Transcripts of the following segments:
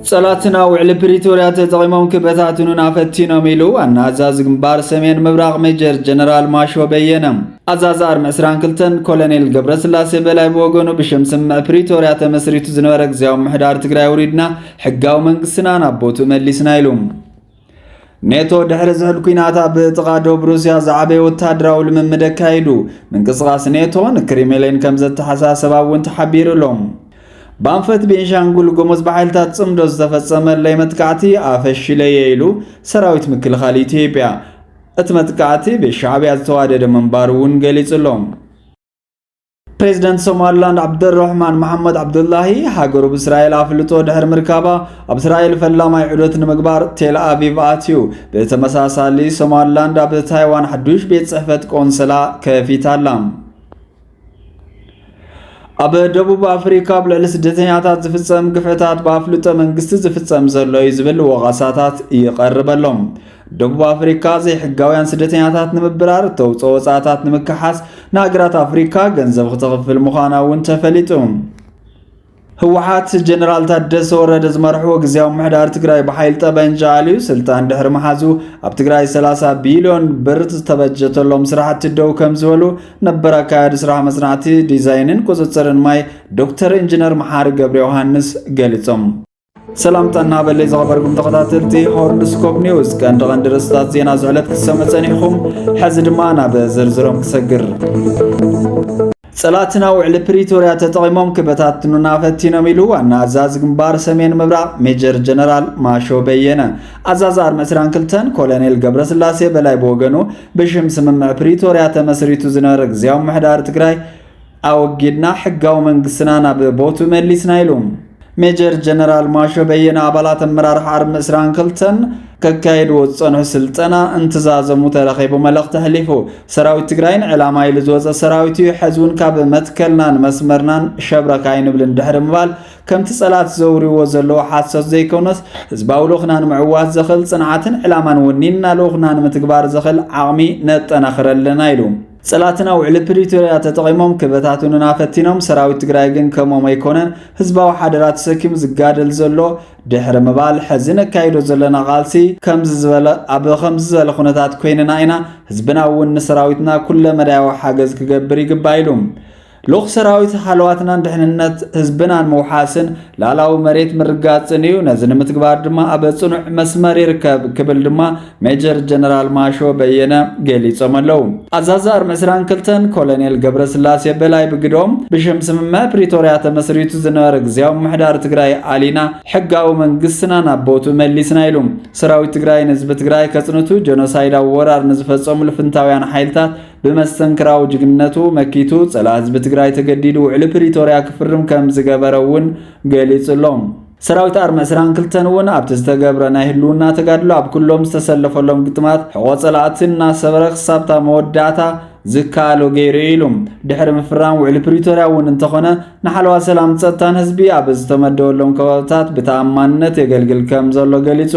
ጸላትና ውዕሊ ፕሪቶርያ ተጠቒሞም ክበታትኑና ፈቲኖም ኢሉ ዋና ኣዛዚ ግንባር ሰሜን ምብራቕ ሜጀር ጀነራል ማሾ በየነ። ኣዛዚ ኣርሚ 22 ኮሎኔል ገብረስላሴ በላይ ብወገኑ ብሽም ስምምዕ ፕሪቶርያ ተመስሪቱ ዝነበረ ግዜያዊ ምሕዳር ትግራይ ውሪድና ሕጋዊ መንግስትና ናብ ቦትኡ መሊስና ኢሉ። ኔቶ ድሕሪ ዝሑል ኩናት ኣብ ጥቓ ዶብ ሩስያ ዝዓበየ ወታደራዊ ልምምድ ኣካይዱ ምንቅስቓስ ኔቶ ንክሪምሊን ከም ዘተሓሳሰባ እውን ተሓቢሩ ኣሎ ባንፈት ቤንሻንጉል ጎሞዝ ብሓይልታት ጽምዶ ዝተፈጸመ ለይ መጥቃዕቲ ኣፈሽለየ ኢሉ ሰራዊት ምክልኻል ኢትዮጵያ እቲ መጥቃዕቲ ብሻዕብያ ዝተዋደደ ምንባሩ እውን ገሊጹ ኣሎ ፕሬዚደንት ሶማሊላንድ ዓብደረሕማን መሓመድ ዓብዱላሂ ሃገሩ ብእስራኤል ኣፍልጦ ድሕሪ ምርካባ ኣብ እስራኤል ፈላማይ ዑደት ንምግባር ቴል ኣቪቭ ኣትዩ ብተመሳሳሊ ሶማሊላንድ ኣብ ታይዋን ሓዱሽ ቤት ጽሕፈት ቆንስላ ከፊታ ኣላ ኣብ ደቡብ ኣፍሪካ ኣብ ልዕሊ ስደተኛታት ዝፍፀም ግፍዕታት ብኣፍልጦ መንግስቲ ዝፍፀም ዘሎ እዩ ዝብል ወቐሳታት ይቐርበሎም ደቡብ ኣፍሪካ ዘይሕጋውያን ስደተኛታት ንምብራር እተውፅኦ ወፃእታት ንምክሓስ ንሃገራት ኣፍሪካ ገንዘብ ክትኽፍል ምዃና እውን ተፈሊጡ ህወሓት ጀነራል ታደሰ ወረደ ዝመርሕዎ ግዜያዊ ምሕዳር ትግራይ ብሓይል ጠበንጃ ኣልዩ ስልጣን ድሕሪ መሓዙ ኣብ ትግራይ 30 ቢልዮን ብር ዝተበጀተሎም ስራሕቲ ደው ከም ዝበሉ ነበር ኣካያዲ ስራሕ መፅናዕቲ ዲዛይንን ቁፅፅርን ማይ ዶክተር ኢንጂነር መሓሪ ገብረ ዮሃንስ ገሊፆም ሰላም ጠና በለይ ዝኸበርኩም ተኸታተልቲ ሆርን ስኮፕ ኒውስ ቀንዲ ቀንዲ ርእስታት ዜና ዝዕለት ክሰሙ ጸኒሕኹም ሕዚ ድማ ናብ ዝርዝሮም ክሰግር ጸላትና ውዕሊ ፕሪቶርያ ተጠቒሞም ክበታትኑና ፈቲኖም ኢሉ ዋና ኣዛዚ ግንባር ሰሜን ምብራቕ ሜጀር ጀነራል ማሾ በየነ። ኣዛዚ ኣርሚ 22 ኮሎኔል ገብረስላሴ በላይ ብወገኑ ብሽም ስምምዕ ፕሪቶርያ ተመስሪቱ ዝነበረ ግዜያዊ ምሕዳር ትግራይ ኣወጊድና ሕጋዊ መንግስትና ናብ ቦትኡ መሊስና ኢሉ። ሜጀር ጀነራል ማሾ በየነ ኣባላት ኣመራርሓ ኣርሚ 22ን ከካየድዎ ዝጸንሑ ስልጠና እንትዛዘሙ ተረኺቡ መልእኽቲ ኣሕሊፉ። ሰራዊት ትግራይ ንዕላማ ኢሉ ዝወፀ ሰራዊት እዩ፣ ሕዚ እውን ካብ መትከልናን መስመርናን ሸብረክ ኣይንብልን ድሕሪ ምባል ከምቲ ጸላት ዘውርዎ ዘለዎ ሓሶት ዘይኮነስ ህዝባዊ ልኡኽና ንምዕዋት ዘኽእል ጽንዓትን ዕላማን ወኒንና ልኡኽና ንምትግባር ዘኽእል ዓቕሚ ነጠናኽር ኣለና ኢሉ። ፀላእትና ውዕሊ ፕሪቶርያ ተጠቒሞም ክበታትኑና ፈቲኖም፣ ሰራዊት ትግራይ ግን ከምኦም ኣይኮነን ህዝባዊ ሓደራ ተሰኪሙ ዝጋደል ዘሎ ድሕሪ ምባል ሕዚ ነካይዶ ዘለና ቃልሲ ከምዚ ዝበለ ኣብ ከምዚ ዝበለ ኩነታት ኮይንና ኢና፣ ህዝብና እውን ንሰራዊትና ኩለ መዳያዊ ሓገዝ ክገብር ይግባእ ኢሉ። ልኡኽ ሰራዊት ሃለዋትናን ድሕንነት ህዝብናን ምውሓስን ላላዊ መሬት ምርጋፅን እዩ፣ ነዚ ንምትግባር ድማ ኣብ ፅኑዕ መስመር ይርከብ ክብል ድማ ሜጀር ጀነራል ማሾ በየነ ገሊፆም ኣለው። ኣዛዚ ኣርሚ ዕስራን ክልተን ኮሎኔል ገብረስላሴ በላይ ብግዶም፣ ብሽም ስምምዕ ፕሪቶርያ ተመስሪቱ ዝነበረ ግዝያዊ ምምሕዳር ትግራይ ኣሊና ሕጋዊ መንግስትና ናብ ቦትኡ መሊስና ኢሉም። ሰራዊት ትግራይ ንህዝቢ ትግራይ ከፅንቱ ጀኖሳይዳዊ ወራር ንዝፈፀሙ ልፍንታውያን ሓይልታት ብመስተንክራዊ ጅግንነቱ መኪቱ ጸላ ህዝቢ ትግራይ ተገዲዱ ውዕሊ ፕሪቶርያ ክፍርም ከም ዝገበረ እውን ገሊጹ ኣሎ። ሰራዊት ኣርሚ ዕስራን ክልተን እውን ኣብቲ ዝተገብረ ናይ ህልውና ተጋድሎ ኣብ ኩሎም ዝተሰለፈሎም ግጥማት ሕቖ ጸላእቲ እናሰበረ ክሳብታ መወዳእታ ዝከኣሎ ገይሩ እዩ ኢሉ ድሕሪ ምፍራም ውዕሊ ፕሪቶርያ እውን እንተኾነ ንሓለዋ ሰላም ጸጥታን ህዝቢ ኣብ ዝተመደበሎም ከባብታት ብተኣማንነት የገልግል ከም ዘሎ ገሊጹ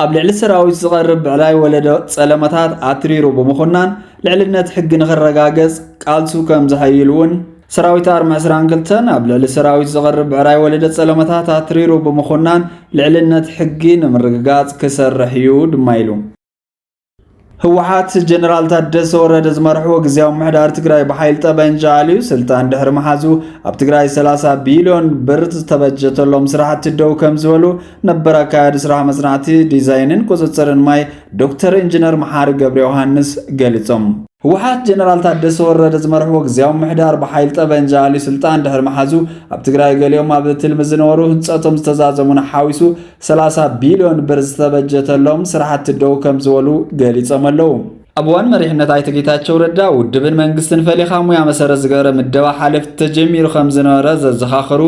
ኣብ ልዕሊ ሰራዊት ዝቐርብ ብዕላይ ወለዶ ጸለመታት ኣትሪሩ ብምኹናን ልዕልነት ሕጊ ንኽረጋገጽ ቃልሱ ከም ዝሐይል እውን ሰራዊት ኣርሚ 22 ኣብ ልዕሊ ሰራዊት ዝቐርብ ብዕራይ ወለደ ጸለመታት ኣትሪሩ ብምኹናን ልዕልነት ሕጊ ንምርግጋጽ ክሰርሕ እዩ ድማ ኢሉ። ህወሓት ጀነራል ታደሰ ወረደ ዝመርሕዎ ግዜያዊ ምሕዳር ትግራይ ብሓይል ጠበንጃ ኣልዩ ስልጣን ድሕሪ ምሓዙ ኣብ ትግራይ 30 ቢልዮን ብር ዝተበጀተሎም ስራሕቲ ደው ከም ዝበሉ ነበር ኣካያዲ ስራሕ መፅናዕቲ ዲዛይንን ቁፅፅርን ማይ ዶክተር ኢንጂነር መሓሪ ገብረ ዮሃንስ ገሊፆም። ህወሓት ጀነራል ታደሰ ወረደ ዝመርሕዎ ግዜያዊ ምሕዳር ብሓይል ጠበንጃ ኣልዩ ስልጣን ድሕሪ ምሓዙ ኣብ ትግራይ ገሊኦም ኣብ ትልሚ ዝነበሩ ህንፀቶም ዝተዛዘሙን ሓዊሱ ሰላሳ ቢልዮን ብር ዝተበጀተሎም ስራሕቲ ደው ከምዝበሉ ገሊፆም ኣለው። ኣብ እዋን መሪሕነት ኣይተ ጌታቸው ረዳ ውድብን መንግስትን ፈሊኻ ሙያ መሰረት ዝገበረ ምደባ ሓለፍቲ ተጀሚሩ ከም ዝነበረ ዘዘኻኸሩ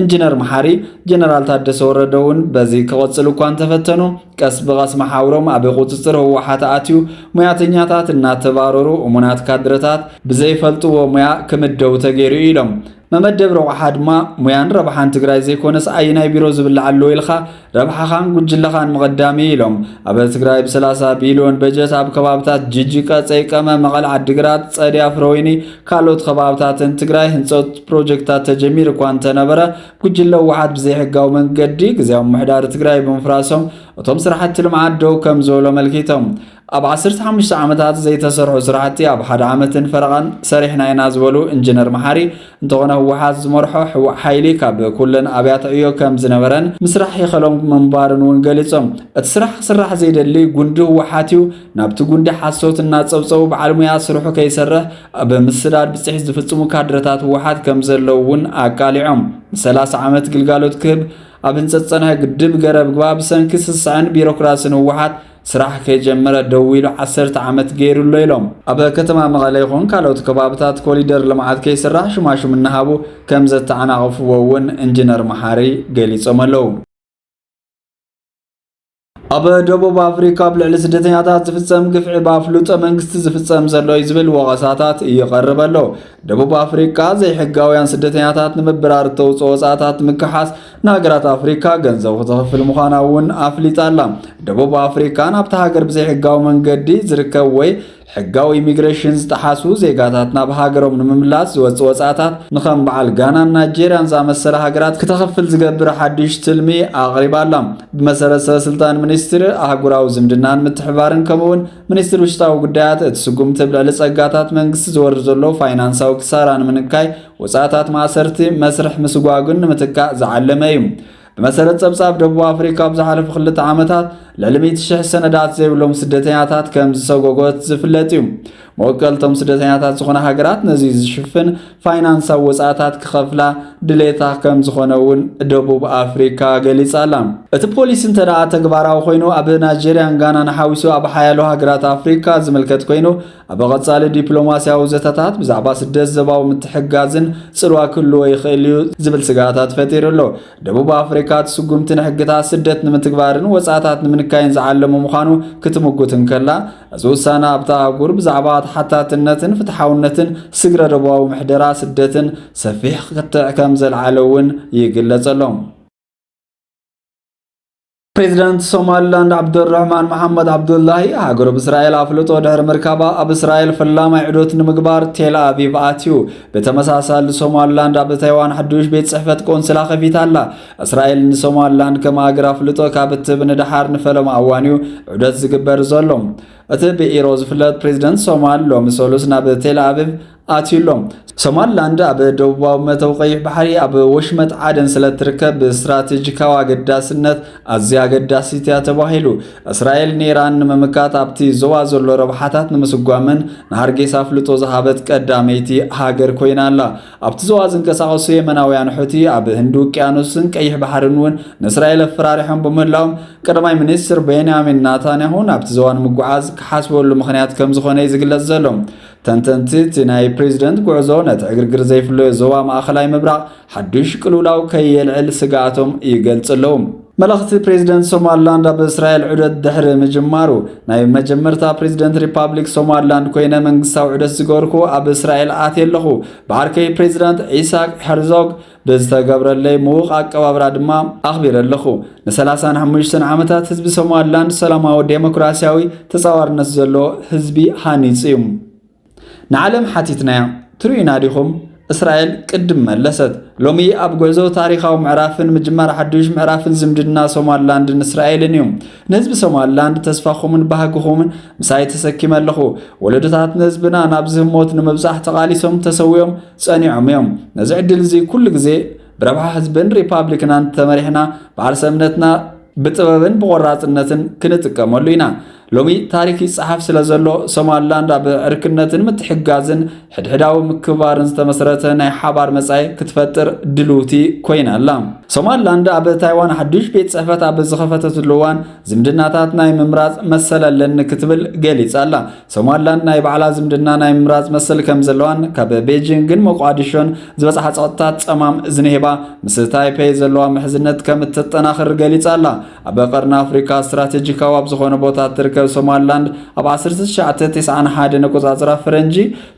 ኢንጂነር መሓሪ ጀነራል ታደሰ ወረደ እውን በዚ ክቐፅሉ እኳ እንተፈተኑ ቀስ ብቐስ መሓውሮም ኣብ ቁፅፅር ህወሓት ኣትዩ ሙያተኛታት እናተባረሩ እሙናት ካድረታት ብዘይፈልጥዎ ሙያ ክምደቡ ተገይሩ ኢሎም። መመደብ ረቑሓ ድማ ሙያን ረብሓን ትግራይ ዘይኮነስ ኣየናይ ቢሮ ዝብላዕ ኣለዎ ኢልካ ረብሓኻን ጉጅለኻን ምቕዳም እዩ ኢሎም። ኣብ ትግራይ ብ30 ቢልዮን በጀት ኣብ ከባብታት ጅጅ፣ ቀፀይ፣ ቀመ፣ መቐል፣ ዓዲግራት፣ ፀዲያ፣ ፍረወይኒ ካልኦት ከባብታትን ትግራይ ህንፀት ፕሮጀክታት ተጀሚሩ እኳ እንተነበረ ጉጅለ ህወሓት ብዘይሕጋዊ መንገዲ ግዝያዊ ምሕዳር ትግራይ ብምፍራሶም እቶም ስራሕቲ ልምዓት ደው ከም ዝበሉ ኣመልኪቶም። ኣብ ዓሰርተ ሓሙሽተ ዓመታት ዘይተሰርሑ ስራሕቲ ኣብ ሓደ ዓመትን ፈረቓን ሰሪሕና ኢና ዝበሉ ኢንጂነር መሓሪ እንተኾነ ህወሓት ዝመርሖ ሕዋእ ሓይሊ ካብ ኩለን ኣብያተ ዕዮ ከም ዝነበረን ምስራሕ ይኸሎም ምንባርን እውን ገሊፆም። እቲ ስራሕ ክስራሕ ዘይደሊ ጉንዲ ህወሓት እዩ። ናብቲ ጉንዲ ሓሶት እናፀብፀቡ በዓል ሙያ ስርሑ ከይሰርሕ ኣብ ምስዳድ ብፅሒት ዝፍፅሙ ካድረታት ህወሓት ከም ዘለዉ እውን ኣቃሊዖም። ንሰላሳ ዓመት ግልጋሎት ክህብ ኣብ ህንፀት ዝፀንሐ ግድብ ገረብ ግባ ብሰንኪ ስስዐን ቢሮክራስን ህወሓት ስራሕ ከይጀመረ ደው ኢሉ ዓሰርተ ዓመት ገይሩ ኣሎ ኢሎም። ኣብ ከተማ መቐለ ይኹን ካልኦት ከባብታት ኮሊደር ልምዓት ከይስራሕ ሹማሹም እናሃቡ ከም ዘተዓናቕፍዎ እውን ኢንጂነር መሓሪ ገሊፆም ኣለው። ኣብ ደቡብ ኣፍሪካ ኣብ ልዕሊ ስደተኛታት ዝፍፀም ግፍዒ ብኣፍልጦ መንግስቲ ዝፍፀም ዘሎ እዩ ዝብል ወቐሳታት ይቐርብ ኣሎ። ደቡብ ኣፍሪካ ዘይሕጋውያን ስደተኛታት ንምብራር እተውፅኦ ወፃእታት ምክሓስ ንሃገራት ኣፍሪካ ገንዘብ ክትኽፍል ምዃና እውን ኣፍሊጣ ኣላ። ደቡብ ኣፍሪካ ናብታ ሃገር ብዘይሕጋዊ መንገዲ ዝርከብ ወይ ሕጋዊ ኢሚግሬሽን ዝጠሓሱ ዜጋታት ናብ ሃገሮም ንምምላስ ዝወፅ ወፃእታት ንከም በዓል ጋናን ናይጀርያን ዝኣመሰለ ሃገራት ክተኽፍል ዝገብር ሓድሽ ትልሚ ኣቕሪባ ኣላ። ብመሰረት ሰበስልጣን ሚኒስትሪ ኣህጉራዊ ዝምድናን ምትሕብባርን ከምኡውን ሚኒስትሪ ውሽጣዊ ጉዳያት እቲ ስጉምቲ ብልዕሊ ፀጋታት መንግስቲ ዝወርድ ዘሎ ፋይናንሳዊ ክሳራ ንምንካይ ወጻእታት ማእሰርቲ መስርሕ ምስጓግን ንምትካእ ዝዓለመ እዩ። ብመሰረት ጸብጻብ ደቡብ ኣፍሪካ ኣብ ዝሓለፉ ክልተ ዓመታት ልዕሊ 100 ሽሕ ሰነዳት ዘይብሎም ስደተኛታት ከም ዝሰጎጎት ዝፍለጥ እዩ። መወከልቶም ስደተኛታት ዝኾነ ሃገራት ነዚ ዝሽፍን ፋይናንሳዊ ወጻእታት ክኸፍላ ድሌታ ከም ዝኾነ እውን ደቡብ ኣፍሪካ ገሊጻ ኣላ። እቲ ፖሊሲ እንተደኣ ተግባራዊ ኮይኑ ኣብ ናይጀርያን ጋናን ሓዊሱ ኣብ ሓያሎ ሃገራት ኣፍሪካ ዝምልከት ኮይኑ ኣብ ቐጻሊ ዲፕሎማስያዊ ዘተታት ብዛዕባ ስደት ዘባዊ ምትሕጋዝን ጽልዋ ክህልዎ ይኽእል እዩ ዝብል ስጋታት ፈጢሩ ኣሎ። ደቡብ ኣፍሪካ እቲ ስጉምቲ ንሕግታት ስደት ንምትግባርን ወጻእታት ንምንካይን ዝዓለሙ ምዃኑ ክትምጉት እንከላ እዚ ውሳነ ኣብታ ኣህጉር ብዛዕባ ተሓታትነትን ፍትሓውነትን ስግረ ደቡባዊ ምሕደራ ስደትን ሰፊሕ ክትዕ ከም ዘልዓለ እውን ይግለጸሎም። ፕሬዚዳንት ሶማሊላንድ ዓብዱራህማን መሓመድ ዓብዱላሂ ሃገሩ ብእስራኤል ኣፍልጦ ድሕሪ ምርካባ ኣብ እስራኤል ፈላማይ ዕዶት ንምግባር ቴል ኣቪቭ ኣትዩ። ብተመሳሳሊ ሶማሊላንድ ኣብ ታይዋን ሓዱሽ ቤት ጽሕፈት ቆንስላ ከፊታ ኣላ። እስራኤል ንሶማሊላንድ ከም ሃገር ኣፍልጦ ካብ እትህብ ንደሓር ንፈለማ እዋን እዩ ዑደት ዝግበር ዘሎ። እቲ ብኢሮ ዝፍለጥ ፕሬዚደንት ሶማል ሎሚ ሰሉስ ናብ ቴል ኣቪቭ ኣትዩ ኣሎ። ሶማሊላንድ ኣብ ደቡባዊ መተው ቀይሕ ባሕሪ ኣብ ወሽመጥ ዓደን ስለ እትርከብ ብስትራቴጂካዊ ኣገዳስነት ኣዝያ ኣገዳሲት እያ ተባሂሉ። እስራኤል ንኢራን ንምምካት ኣብቲ ዞባ ዘሎ ረብሓታት ንምስጓምን ንሃርጌሳ ኣፍልጦ ዝሃበት ቀዳመይቲ ሃገር ኮይና ኣላ። ኣብቲ ዞባ ዝንቀሳቐሱ የመናውያን ሑቲ ኣብ ህንዲ ውቅያኖስን ቀይሕ ባሕርን እውን ንእስራኤል ኣፈራሪሖም ብምህላዎም ቀዳማይ ሚኒስትር ቤንያሚን ናታንያሁ ናብቲ ዞባ ንምጉዓዝ ክሓስበሉ ምኽንያት ከም ዝኾነ እዩ ዝግለጽ ዘሎ። ተንተንቲ እቲ ናይ ፕሬዚደንት ጉዕዞ ነቲ ዕግርግር ዘይፍለዮ ዞባ ማእኸላይ ምብራቕ ሓዱሽ ቅልውላው ከየልዕል ስግኣቶም ይገልጹ ኣለዉ። መልእኽቲ ፕሬዚደንት ሶማሊላንድ ኣብ እስራኤል ዑደት ድሕሪ ምጅማሩ፣ ናይ መጀመርታ ፕሬዚደንት ሪፓብሊክ ሶማሊላንድ ኮይነ መንግስታዊ ዑደት ዝገበርኩ ኣብ እስራኤል ኣትየ ኣለኹ። ብዓርከይ ፕሬዚዳንት ኢሳቅ ሄርዞግ ብዝተገብረለይ ምዉቕ ኣቀባብራ ድማ ኣኽቢረ ኣለኹ። ንሰላሳን ሓሙሽተን ዓመታት ህዝቢ ሶማሊላንድ ሰላማዊ ዴሞክራሲያዊ ተጻዋርነት ዘለዎ ህዝቢ ሃኒጹ እዩ። ንዓለም ሓቲትናያ ትርእዩና ዲኹም? እስራኤል ቅድም መለሰት። ሎሚ ኣብ ጉዕዞ ታሪኻዊ ምዕራፍን ምጅማር ሓዱሽ ምዕራፍን ዝምድና ሶማሊላንድን እስራኤልን እዩ። ንህዝቢ ሶማሊላንድ ተስፋኹምን ባህግኹምን ምሳይ ተሰኪመ ኣለኹ። ወለዶታት ንህዝብና ናብዚ ህሞት ንምብጻሕ ተቓሊሶም ተሰዊኦም ጸኒዖም እዮም። ነዚ ዕድል እዚ ኩሉ ግዜ ብረብሓ ህዝብን ሪፓብሊክናን ተመሪሕና በዓል ሰብነትና ብጥበብን ብቆራፅነትን ክንጥቀመሉ ኢና ሎሚ ታሪክ ይፀሓፍ ስለ ዘሎ ሶማልላንድ ኣብ ዕርክነትን ምትሕጋዝን ሕድሕዳዊ ምክብባርን ዝተመስረተ ናይ ሓባር መጻኢ ክትፈጥር ድልውቲ ኮይና ኣላ ሶማልላንድ ኣብ ታይዋን ሓዱሽ ቤት ጽሕፈት ኣብ ዝኸፈተትሉ እዋን ዝምድናታት ናይ ምምራጽ መሰል ኣለኒ ክትብል ገሊጻ ኣላ ሶማሊላንድ ናይ ባዕላ ዝምድና ናይ ምምራጽ መሰል ከም ዘለዋን ካብ ቤጂንግን ሞቃዲሾን ዝበጽሓ ጸቕጥታት ጸማም እዝኒ ሂባ ምስ ታይፔይ ዘለዋ ምሕዝነት ከም እተጠናኽር ገሊጻ ኣላ። ኣብ ቀርኒ ኣፍሪካ ስትራቴጂካዊ ኣብ ዝኾነ ቦታ እትርከብ ሶማሊላንድ ኣብ 1991 ነቆጻጽራ ፈረንጂ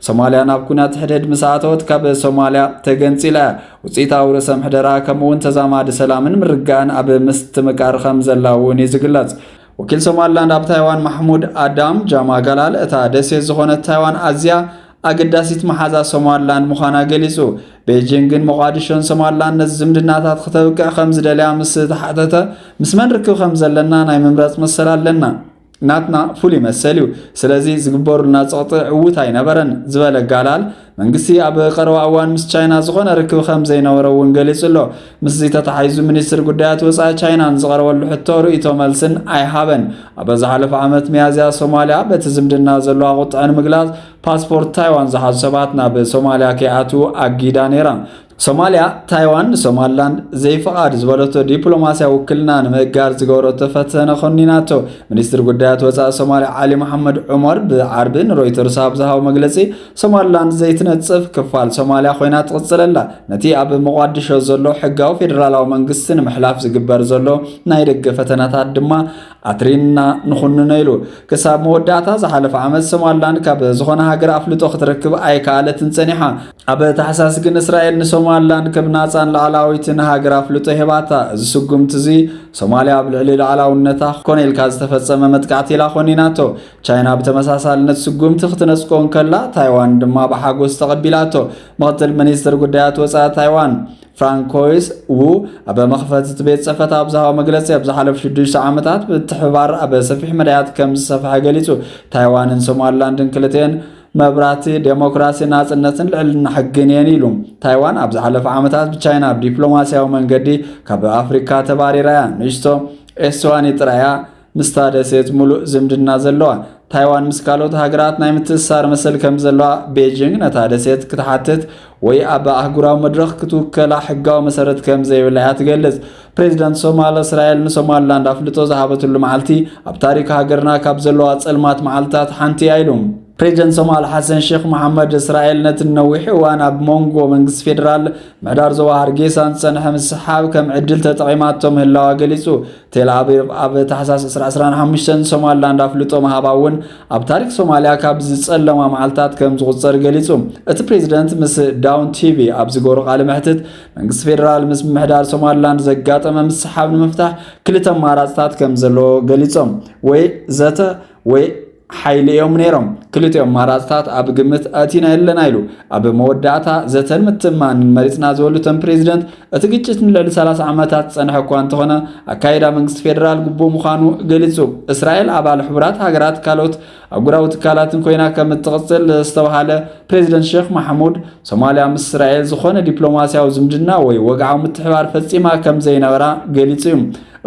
ሶማሊያ ናብ ኩናት ሕድሕድ ምስ ኣተወት ካብ ሶማሊያ ተገንጺላ እያ። ውፅኢታዊ ርእሰ ምሕደራ ከምኡውን ተዛማዲ ሰላምን ምርጋእን ኣብ ምስትምቃር ከም ዘላ እውን እዩ ዝግለጽ። ወኪል ሶማልላንድ ኣብ ታይዋን ማሕሙድ ኣዳም ጃማጋላል እታ ደሴት ዝኾነት ታይዋን ኣዝያ ኣገዳሲት መሓዛ ሶማልላንድ ምዃና ገሊጹ። ቤጂንግ ግን ሞቓዲሾን ሶማልላንድ ነዚ ዝምድናታት ክተብቅዕ ከም ዝደልያ ምስ ተሓተተ ምስ መን ርክብ ከም ዘለና ናይ ምምረጽ መሰል ኣለና ናትና ፍሉይ መሰል እዩ ስለዚ ዝግበሩልና ጸቕጢ ዕዉት ኣይነበረን ዝበለ ጋላል መንግስቲ ኣብ ቀረባ እዋን ምስ ቻይና ዝኾነ ርክብ ከም ዘይነበረ እውን ገሊጹ ኣሎ። ምስዚ ተተሓሒዙ ሚኒስትሪ ጉዳያት ወፃኢ ቻይና ንዝቐረበሉ ሕቶ ርእይቶ መልስን ኣይሃበን። ኣብ ዝሓለፈ ዓመት ሚያዝያ ሶማሊያ በቲ ዝምድና ዘለዋ ቁጥዐ ንምግላጽ ፓስፖርት ታይዋን ዝሓዙ ሰባት ናብ ሶማሊያ ከይኣትዉ ኣጊዳ ነይራ። ሶማልያ፣ ታይዋን ንሶማልላንድ ዘይፍቓድ ዝበለቶ ዲፕሎማስያዊ ውክልና ንምእጋድ ዝገበረቶ ፈተነ ኮኒናቶ። ሚኒስትር ጉዳያት ወፃኢ ሶማልያ ዓሊ መሓመድ ዑመር ብዓርቢ ንሮይተርስ ኣብ ዝሃቦ መግለፂ ሶማልላንድ ዘይትነፅፍ ክፋል ሶማልያ ኮይና ትቕፅል ኣላ፣ ነቲ ኣብ መቋድሾ ዘሎ ሕጋዊ ፌዴራላዊ መንግስቲ ንምሕላፍ ዝግበር ዘሎ ናይ ደገ ፈተነታት ድማ ኣትሪና ንኹንኖ ኢሉ። ክሳብ መወዳእታ ዝሓለፈ ዓመት ሶማልላንድ ካብ ዝኾነ ሃገር ኣፍልጦ ክትረክብ ኣይከኣለትን ፀኒሓ። ኣብ ታሕሳስ ግን እስራኤል ንሶማልላንድ ከም ናጻን ላዕላዊትን ሃገር ኣፍልጦ ሄባታ። እዚ ስጉምቲ እዚ ሶማልያ ኣብ ልዕሊ ላዕላውነታ ኮነ ኢልካ ዝተፈጸመ መጥቃዕቲ ኢላ ኮኒናቶ። ቻይና ብተመሳሳሊ ነቲ ስጉምቲ ክትነጽጎ እንከላ፣ ታይዋን ድማ ብሓጎስ ተቐቢላቶ። ምኽትል ሚኒስትር ጉዳያት ወጻኢ ታይዋን ፍራንኮይስ ዉ ኣብ መኽፈቲ እቲ ቤት ጽሕፈት ኣብ ዝሃቦ መግለጺ ኣብ ዝሓለፉ ሽዱሽተ ዓመታት ምትሕብባር ኣብ ሰፊሕ መዳያት ከም ዝሰፍሐ ገሊጹ። ታይዋንን ሶማልላንድን ክልቲኤን መብራህቲ ዴሞክራሲ፣ ናጽነትን ልዕልና ሕግን እየን ኢሉ። ታይዋን ኣብ ዝሓለፈ ዓመታት ብቻይና ብዲፕሎማስያዊ መንገዲ ካብ ኣፍሪካ ተባሪራ እያ። ንእሽቶ ኤስዋኒ ጥራይ እያ ምስታ ደሴት ሙሉእ ዝምድና ዘለዋ። ታይዋን ምስ ካልኦት ሃገራት ናይ ምትእስሳር መሰል ከም ዘለዋ ቤጂንግ ነታ ደሴት ክትሓትት ወይ ኣብ ኣህጉራዊ መድረኽ ክትውከላ ሕጋዊ መሰረት ከም ዘይብላ እያ ትገልጽ። ፕሬዚደንት ሶማል እስራኤል ንሶማልላንድ ኣፍልጦ ዝሃበትሉ መዓልቲ ኣብ ታሪክ ሃገርና ካብ ዘለዋ ጸልማት መዓልትታት ሓንቲ እያ ኢሉ ፕሬዚደንት ሶማል ሓሰን ሼክ መሓመድ እስራኤል ነቲ ነዊሕ እዋን ኣብ ሞንጎ መንግስቲ ፌዴራል ምሕዳር ዞባ ሃርጌሳን ዝጸንሐ ምስሓብ ከም ዕድል ተጠቒማቶ ምህላዋ ገሊጹ ቴል ኣቪቭ ኣብ ታሕሳስ 225 ንሶማልላንድ ኣፍልጦ ምሃባ እውን ኣብ ታሪክ ሶማልያ ካብ ዝጸለማ መዓልትታት ከም ዝቑጸር ገሊጹ እቲ ፕሬዚደንት ምስ ዳውን ቲቪ ኣብ ዝገበሮ ቃለ መሕትት መንግስቲ ፌዴራል ምስ ምምሕዳር ሶማሊላንድ ዘጋጠመ ምስሓብ ንምፍታሕ ክልተ ኣማራፅታት ከም ዘለዎ ገሊፆም ወይ ዘተ ወይ ሓይሊ እዮም ነይሮም ክልቲኦ ኣማራፅታት ኣብ ግምት ኣእቲና የለና ኢሉ ኣብ መወዳእታ ዘተን ምትማንን መሪፅና ዝበሉ እቶም ፕሬዚደንት እቲ ግጭት ንልዕሊ 30 ዓመታት ዝፀንሐ እኳ እንተኾነ ኣካይዳ መንግስቲ ፌዴራል ግቡእ ምዃኑ ገሊፁ እስራኤል ኣባል ሕቡራት ሃገራት ካልኦት ኣህጉራዊ ትካላትን ኮይና ከም እትቕፅል ዝተብሃለ ፕሬዚደንት ሼክ ማሕሙድ፣ ሶማሊያ ምስ እስራኤል ዝኾነ ዲፕሎማሲያዊ ዝምድና ወይ ወግዓዊ ምትሕባር ፈፂማ ከም ዘይነበራ ገሊፁ እዩ።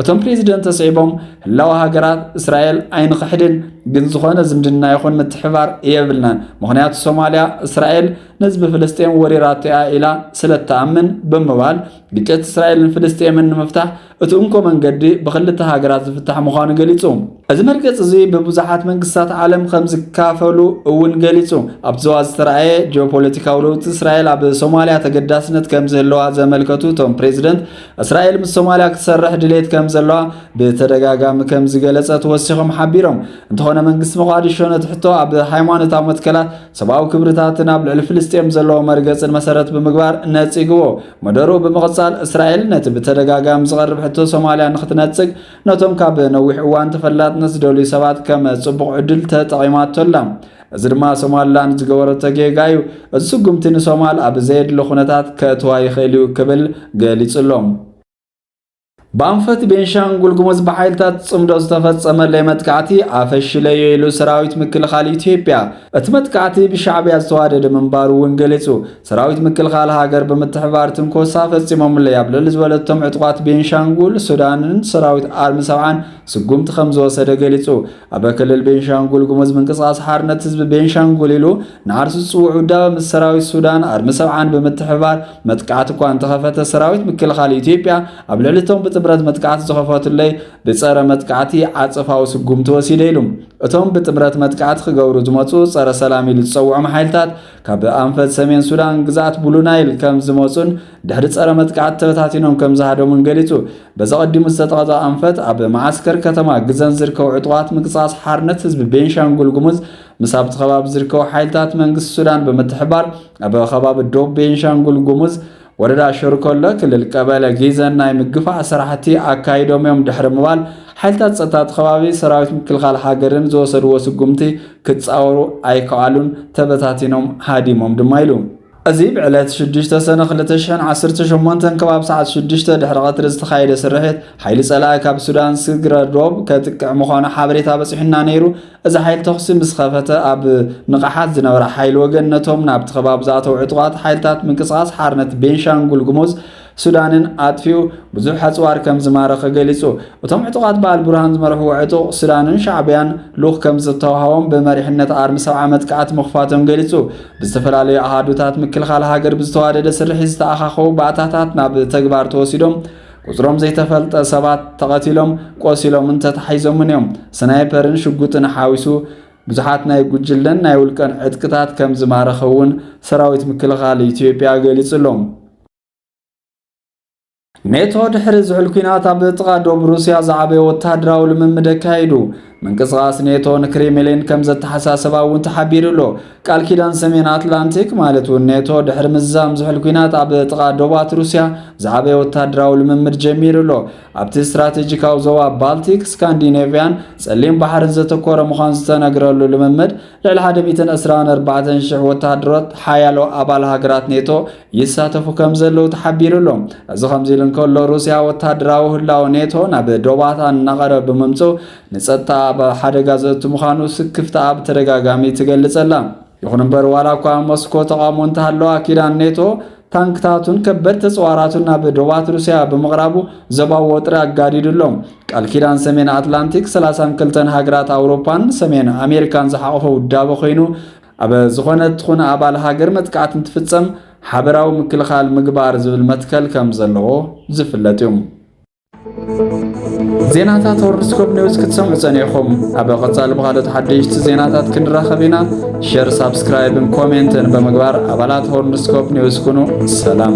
እቶም ፕሬዚደንት ኣስዒቦም፣ ህላወ ሃገራት እስራኤል ኣይንኽሕድን፣ ግን ዝኾነ ዝምድና ይኹን ምትሕባር የብልናን፣ ምኽንያቱ ሶማሊያ እስራኤል ንህዝቢ ፍልስጤም ወሪራቶ እያ ኢላ ስለእትኣምን ብምባል ግጭት እስራኤልን ፍልስጤምን ንምፍታሕ እቲ እንኮ መንገዲ ብክልተ ሃገራት ዝፍታሕ ምዃኑ ገሊጹ። እዚ መርገጺ እዚ ብብዙሓት መንግስታት ዓለም ከም ዝካፈሉ እውን ገሊጹ። ኣብቲ ዞባ ዝተራእየ ጂኦፖለቲካዊ ለውጢ እስራኤል ኣብ ሶማልያ ተገዳስነት ከም ዝህለዋ ዘመልከቱ እቶም ፕሬዚደንት እስራኤል ምስ ሶማልያ ክትሰርሕ ድሌት ከም ዘለዋ ብተደጋጋሚ ከም ዝገለጸት ወሲኾም ሓቢሮም። እንተኾነ መንግስቲ መቋዲሾ ነቲ ሕቶ ኣብ ሃይማኖታዊ መትከላት፣ ሰብኣዊ ክብርታትን ኣብ ልዕሊ ፍልስጤም ዘለዎ መርገጽን መሰረት ብምግባር ነጺግዎ። መደሩ ብምቕጻል እስራኤል ነቲ ብተደጋጋሚ ዝቐርብ ሕቶ ሶማልያ ንኽትነጽግ ነቶም ካብ ነዊሕ እዋን ተፈላጥነት ዝደልዩ ሰባት ከም ጽቡቕ ዕድል ተጠቒማቶ ኣላ። እዚ ድማ ሶማልላንድ ዝገበረቶ ጌጋ እዩ። እዚ ስጉምቲ ንሶማል ኣብ ዘየድሊ ኩነታት ከእትዋ ይኽእል እዩ ክብል ገሊጹ ኣሎ። ብኣንፈት ቤንሻንጉል ጉሙዝ ብሓይልታት ጽምዶ ዝተፈጸመለይ መጥቃዕቲ ኣፈሽለዮ ኢሉ ሰራዊት ምክልኻል ኢትዮጵያ እቲ መጥቃዕቲ ብሻዕብያ ዝተዋደደ ምንባሩ እውን ገሊጹ። ሰራዊት ምክልኻል ሃገር ብምትሕባር ትንኮሳ ፈጺሞምለይ ኣብ ልዕሊ ዝበለቶም ዕጡቓት ቤንሻንጉል ሱዳንን ሰራዊት ኣርሚ ሰብዓን ስጉምቲ ከም ዝወሰደ ገሊጹ። ኣብ ክልል ቤንሻንጉል ጉሙዝ ምንቅስቓስ ሓርነት ህዝቢ ቤንሻንጉል ኢሉ ንኣርሲ ዝጽውዕ ውዳበ ምስ ሰራዊት ሱዳን ኣርሚ ሰብዓን ብምትሕብባር መጥቃዕቲ እኳ እንተኸፈተ ሰራዊት ምክልኻል ኢትዮጵያ ኣብ ልዕሊ እቶም ብጥምረት መጥቃዕቲ ዝኸፈቱለይ ብጸረ መጥቃዕቲ ዓጸፋዊ ስጉምቲ ወሲደ ኢሉ። እቶም ብጥምረት መጥቃዕቲ ክገብሩ ዝመጹ ጸረ ሰላም ኢሉ ዝጸውዖም ሓይልታት ካብ ኣንፈት ሰሜን ሱዳን ግዝኣት ብሉ ናይል ከም ዝመጹን ድሕሪ ጸረ መጥቃዕቲ ተበታቲኖም ከም ዝሃደሙን ገሊጹ። በዚ ቀዲሙ ዝተጠቐዘ ኣንፈት ኣብ መዓስከር ከተማ ግዘን ዝርከቡ ዕጡቓት ምንቅስቓስ ሓርነት ህዝቢ ቤንሻንጉል ጉሙዝ ምስ ኣብቲ ከባቢ ዝርከቡ ሓይልታት መንግስቲ ሱዳን ብምትሕባር ኣብ ከባቢ ዶብ ቤንሻንጉል ጉሙዝ ወረዳ ሸርኮለ ክልል ቀበለ ጊዘን ናይ ምግፋዕ ስራሕቲ ኣካይዶም እዮም ድሕሪ ምባል ሓይልታት ጸጥታ እቲ ከባቢ ሰራዊት ምክልኻል ሃገርን ዝወሰድዎ ስጉምቲ ክጻወሩ ኣይከኣሉን ተበታቲኖም ሃዲሞም ድማ ኢሉ። እዚ ብዕለት ሽዱሽተ ሰነ ክልተ ሽሕን ዓሰርተ ሸሞንተን ከባቢ ሰዓት ሽዱሽተ ድሕሪ ቀትሪ ዝተኻየደ ስርሒት ሓይሊ ጸላኢ ካብ ሱዳን ስግረ ዶብ ከጥቅዕ ምዃኑ ሓበሬታ በጺሑና ነይሩ። እዚ ሓይሊ ተኹሲ ምስ ኸፈተ ኣብ ንቕሓት ዝነበረ ሓይሊ ወገን ነቶም ናብቲ ከባቢ ዝኣተው ዕጡቓት ሓይልታት ምንቅስቓስ ሓርነት ቤንሻንጉል ጉሙዝ ሱዳንን ኣጥፊኡ ብዙሕ ኣጽዋር ከም ዝማረኸ ገሊጹ። እቶም ዕጡቓት ብኣልቡርሃን ዝመርሕዎ ዕጡቕ ሱዳንን ሻዕብያን ልኡኽ ከም ዝተዋሃቦም ብመሪሕነት ኣርሚ ሰብዓ መጥቃዕቲ ምኽፋቶም ገሊጹ። ብዝተፈላለዩ ኣሃዱታት ምክልኻል ሃገር ብዝተዋደደ ስርሒት ዝተኣኻኸቡ ባእታታት ናብ ተግባር ተወሲዶም ቁጽሮም ዘይተፈልጠ ሰባት ተቐቲሎም፣ ቆሲሎምን ተታሒዞምን እዮም። ስናይፐርን ሽጉጥን ሓዊሱ ብዙሓት ናይ ጉጅለን ናይ ውልቀን ዕጥቅታት ከም ዝማረኸ እውን ሰራዊት ምክልኻል ኢትዮጵያ ገሊጹ ኣሎ። ኔቶ ድሕሪ ዝሑል ኲናት ኣብ ጥቓ ዶብ ሩስያ ዝዓበየ ወተሃደራዊ ልምምድ ኣካይዱ ምንቅስቓስ ኔቶ ንክሬምሊን ከም ዘተሓሳሰባ እውን ተሓቢሩ ኣሎ ቃል ኪዳን ሰሜን ኣትላንቲክ ማለት እውን ኔቶ ድሕሪ ምዛም ዝሑል ኩናት ኣብ ጥቓ ዶባት ሩስያ ዝዓበየ ወታደራዊ ልምምድ ጀሚሩ ኣሎ ኣብቲ ስትራቴጂካዊ ዞባ ባልቲክ ስካንዲኔቭያን ጸሊም ባሕርን ዘተኮረ ምዃን ዝተነግረሉ ልምምድ ልዕሊ 124,000 ወተሃደሮት ሓያሎ ኣባል ሃገራት ኔቶ ይሳተፉ ከም ዘለዉ ተሓቢሩ ኣሎ። እዚ ከምዚ ኢሉ እንከሎ ሩስያ ወታደራዊ ህላወ ኔቶ ናብ ዶባታ እናቐረበ ብምምፅኡ ንፀጥታ ኣብ ሓደጋ ዘእቱ ምዃኑ ስክፍታኣ ብተደጋጋሚ ትገልፅ ኣላ። ይኹን እምበር ዋላ እኳ ሞስኮ ተቓውሞ እንተሃለዋ ኪዳን ኔቶ ታንክታቱን ከበድ ተፅዋራቱን ናብ ዶባት ሩስያ ብምቕራቡ ዞባዊ ወጥሪ ኣጋዲዱ ኣሎ። ቃል ኪዳን ሰሜን ኣትላንቲክ 32 ሃገራት ኣውሮፓን ሰሜን ኣሜሪካን ዝሓቖፈ ውዳበ ኮይኑ ኣብ ዝኾነ እትኹን ኣባል ሃገር መጥቃዕቲ እንትፍጸም ሓበራዊ ምክልኻል ምግባር ዝብል መትከል ከም ዘለዎ ዝፍለጥ እዩ። ዜናታት ሆርንስኮፕ ኒውስ ክትሰምዑ ጸኒዕኹም። ኣብ ቀጻሊ ብኻልኦት ሓደሽቲ ዜናታት ክንራኸብ ኢና። ሸር፣ ሳብስክራይብን ኮሜንትን ብምግባር ኣባላት ሆርንስኮፕ ኒውስ ኩኑ። ሰላም